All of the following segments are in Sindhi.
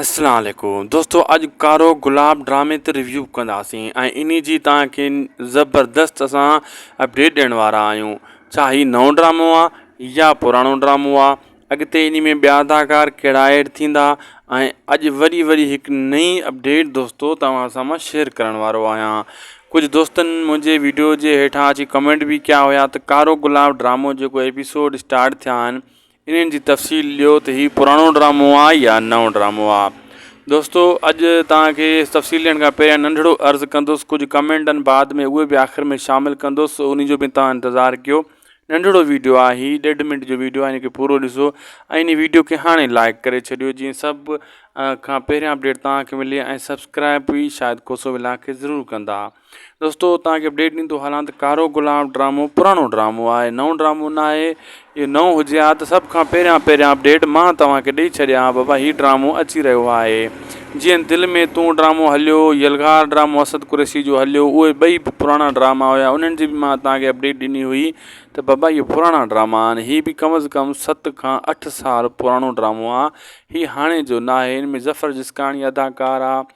السلام عليڪم دوستو اڄ ڪارو گلاب ڊرامي تي ريويو ڪنداسين ۽ انهي جي توهان کي زبردست اسان اپڊيٽ ڏيڻ وارا آهيون ڇا هي نئون ڊرامو آ يا پراڻو ڊرامو آ اڳتي انهي ۾ ٻيا اداڪار ڪهڙا ايڊ ٿيندا ۽ اڄ وري وري هڪ نئي اپڊيٽ دوستو توهان سان مان شيئر ڪرڻ وارو آهيان ڪجهه دوستن منهنجي ويڊيو جي هيٺان اچي ڪمينٽ به ڪيا هيا ته ڪارو گلاب ڊرامو جيڪو ايپيسوڊ اسٽارٽ ٿيا آهن انهن جي تفصيل ڏيو ته هي پراڻو ڊرامو آ يا نئون ڊرامو آ دوستو اڄ توهان کي تفصيل ڏيڻ کان پهريان ننڍڙو عرض ڪندس ڪجهه ڪمينٽن بعد ۾ اهي به آخر ۾ شامل ڪندس انهي جو به توهان انتظار ڪيو ننڍڙو ويڊيو آ هي ڏيڍ منٽ جو ويڊيو آ هن کي پورو ڏسو ۽ انهي ويڊيو کي هاڻي لائڪ ڪري ڇڏيو جيئن سڀ کان پهريان اپڊيٽ توهان کي ملي ۽ سبسڪرائب به شاهد کوسو ولاگ کي ضرور ڪندا دوستو توهان کي اپڊيٽ ڏيندو هلان ته ڪارو گلاب ڊرامو پراڻو ڊرامو آهي نئون ڊرامو نه آهي اهو نئون هجي ها ته سڀ کان پهريان پهريان اپڊيٽ مان توهان کي ڏئي ڇڏيا ها بابا هي ڊرامو اچي رهيو آهي جيئن دل ۾ تون ڊرامو هليو يلغار ڊرامو اسد قريشي جو هليو اهي ٻئي به پراڻا ڊراما هيا انهن جي به مان توهان کي اپڊيٽ ڏني هئي ته بابا اهي پراڻا ڊراما آهن هي به کم از کم ست کان اٺ سال پراڻو ڊرامو آهي هي هاڻي جو نه آهي هن ۾ ظفر جسڪاڻي اداڪار آهي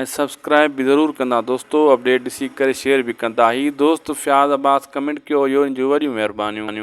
۽ سبسڪرائب به ضرور ڪندا دوستو اپڊيٽ ڏسي ڪري شيئر به ڪندا هي دوست فياض عباس ڪمينٽ ڪيو هيو ان جون وڏيون مهربانيون.